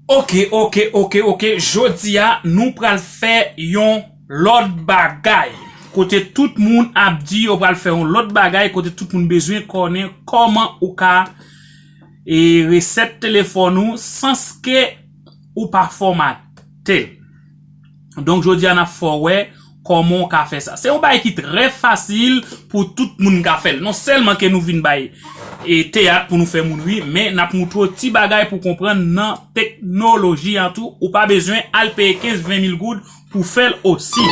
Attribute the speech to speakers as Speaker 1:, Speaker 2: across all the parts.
Speaker 1: Ok ok ok ok jodia nou pral fè yon lòt bagay kote tout moun ap di yo pral fè yon lòt bagay kote tout moun bezwen konnen kòman ou ka e resèt telefòn ou sanske ou pa fòmatel. Donk jodi a nap fè w wè kòman w ka fè sa. Se yon bagay ki trè fasil pou tout moun ka fè l. Non sèlman ke nou vin bay e teyat pou nou fè moun ri, men nap moutre w ti bagay pou konprann nan teknoloji an tou. Ou pa bezwen al peye 15, 20 mil goud pou fè l osi.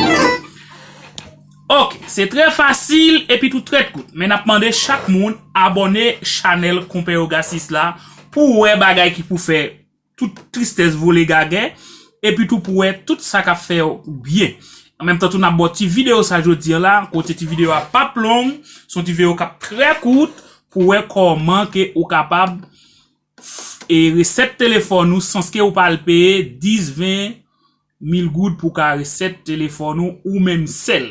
Speaker 1: Ok, se trè fasil epi tou trè kout. Men nap mande chak moun abòne chanèl Konpè Yoga 6 la pou w wè bagay ki pou fè. tout tristès vole gagè, epi tou pou wè tout sa k ap fè w byen. An menm tan tou n ap ba w ti videyo sa jodi an la, kote ti videyo a p ap long, se yon ti veyo k ap trè kout, pou wè kòman ke ou kapab e resèt telefòn ou sans ke ou pa al peye 10, 20 mil goud pou w ka resèt telefòn ou, ou menm sèl.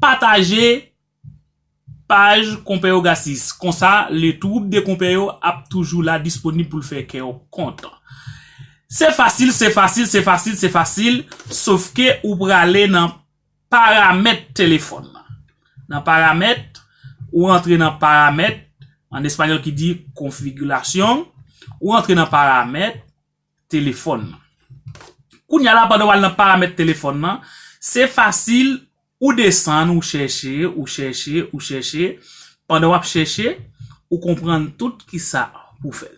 Speaker 1: Pataje paj Konpè Ogasis, konsa le twoup de konpè yo ap toujou la disponib pou l fè kè w kontan. Se fasil, se fasil, se fasil, se fasil, sof ke ou prale nan paramèt telefòn nan. Nan paramèt, ou rantre nan paramèt, an espanyòl ki di configuración, ou rantre nan paramèt, telefòn nan. Kounya la pandan wal nan paramèt telefòn nan, se fasil ou desann ou chèche, ou chèche, ou chèche, pandan wap chèche ou konprann tout kisa pou fèl.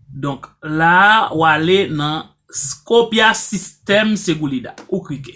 Speaker 1: Donk la wale nan Scopia System Segulida ou klike.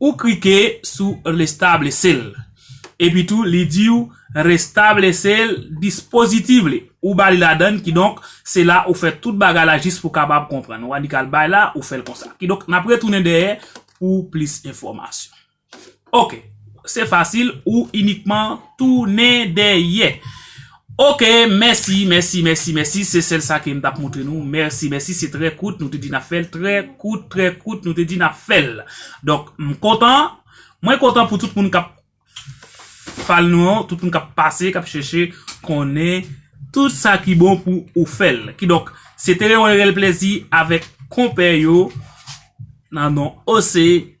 Speaker 1: Ou klike sou restablece l. Epi tou li di ou restablece l dispositif li. Ou ba li ladann kidonk se la ou fè tout bagay la jis pou kapab konprann. Wa di kal bay la ou fè l konsa. Kidonk nap retounen dèyè pou plis enfòmasyon. Ok. Se fasil ou inikman tounen dèyè. Ok mèsi mèsi mèsi mèsi se sèl sa ke m tap moutre nou mèsi mèsi se trè kout nou te di nap fèl trè kout trè kout nou te di nap fèl donk m kontan mwen kontan pou tout moun kap fal nou an tout moun kap pase kap chèche konnen tout sa ki bon pou ou fèl ki donk se te yon rèl plezi avèk konpè yo nan non ose.